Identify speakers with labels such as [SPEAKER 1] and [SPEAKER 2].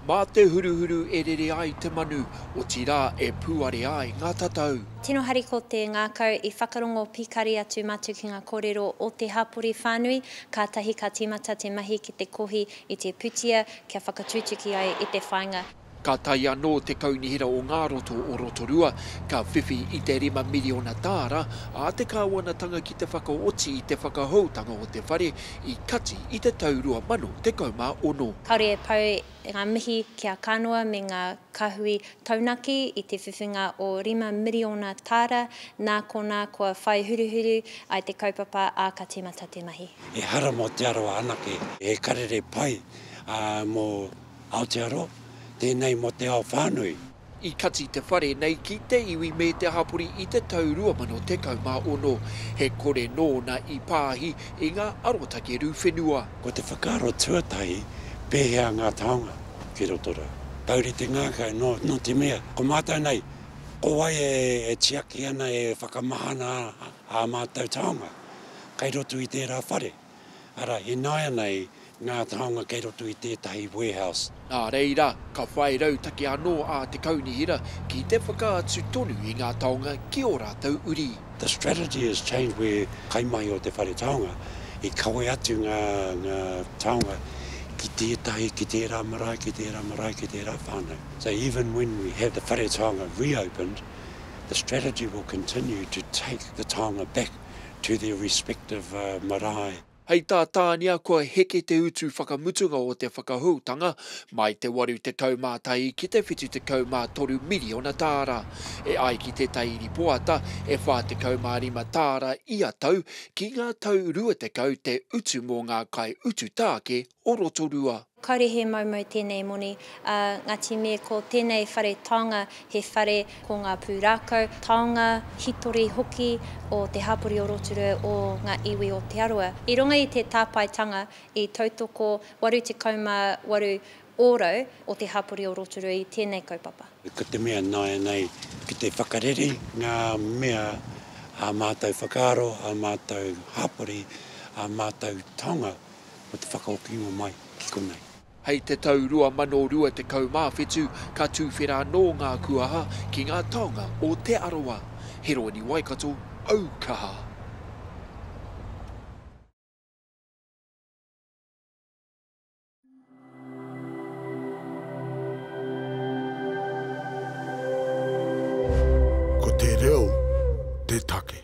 [SPEAKER 1] Mā te huruhuru e rere ai te manu, otirā e pūare ai ngā tatau. Tino hari ko te
[SPEAKER 2] ngākau i whakarongo pikari atu mātou ki ngā kōrero o te hapori whānui, kātahi ka tīmata te mahi ki te kohi i te putia kia whakatutuki ai i te whāinga. Ka tae anō
[SPEAKER 1] te Kaunihera o ngā Roto o Rotorua, ka whiwhi i te rima miriona tāra ā te kāwanatanga ki te whakaoti i te whakahoutanga o te whare i Kati i te tau 2016. Kāore e pau
[SPEAKER 2] ngā mihi ki a Kanoa me ngā kāhui taunaki i te whiwhinga o rima miriona tāra nā konā kua whai huruhuru ai te kaupapa ā ka tīmata te mahi. Ehara mō Te Arawa
[SPEAKER 3] anake. He karere pai mō. Aotearoa, tēnei mō te ao whānui. I kati te
[SPEAKER 1] whare nei ki te iwi me te hapori i te tau 2016. He kore nōna i pāhi i ngā arotake rū whenua. Ko te whakaaro
[SPEAKER 3] tuatahi, pēhea ngā taonga ki roto rā. Taurite ngākau, nō, nō te mea, ko mātou nei, ko wai e, e tiaki ana, e whakamahana ana ā mātou taonga kei roto i tērā whare. Arā, ināianei ngā taonga kei roto i tētahi warehouse. Nā reira,
[SPEAKER 1] ka whai rautaki anō a te Kaunihera ki te whakaatu tonu i ngā taonga ki ō rātou uri. The strategy has
[SPEAKER 3] changed where kaimahi o te whare taonga i kawe atu ngā taonga ki tētahi, ki tērā marae, ki tērā marae, ki tērā whānau. So even when we have the whare taonga reopened, the strategy will continue to take the taonga back. to their respective marae. Hei tā
[SPEAKER 1] Tānia kua heke te utu whakamutunga o te whakahoutanga mai te 81 ki te 73 miriona tāra, e ai ki tētahi ripoata e 45 tāra ia tau ki ngā tau 20 te utu mō ngā kaiutu tāke o Rotorua. Kaore he moumou
[SPEAKER 2] tēnei moni, ā, ngati me ko tēnei whare taonga he whare ko ngā pūrākau, taonga, hitori hoki o te hapori o Rotorua o ngā iwi o Te Arawa. I runga i te tāpaetanga i tautoko 88 ōrau o te hapori o Rotorua i tēnei kaupapa. Ko te mea
[SPEAKER 3] nāianei ki te whakareri ngā mea ā mātou whakaaro, ā mātou hapori, ā mātou taonga. o te whakaokinga mai ki konei. Hei te tau
[SPEAKER 1] 2027 ka tuwhera anō ngā kuaha ki ngā taonga o Te Arawa. Heroini Waikato, au kaha! Ko te reo te take.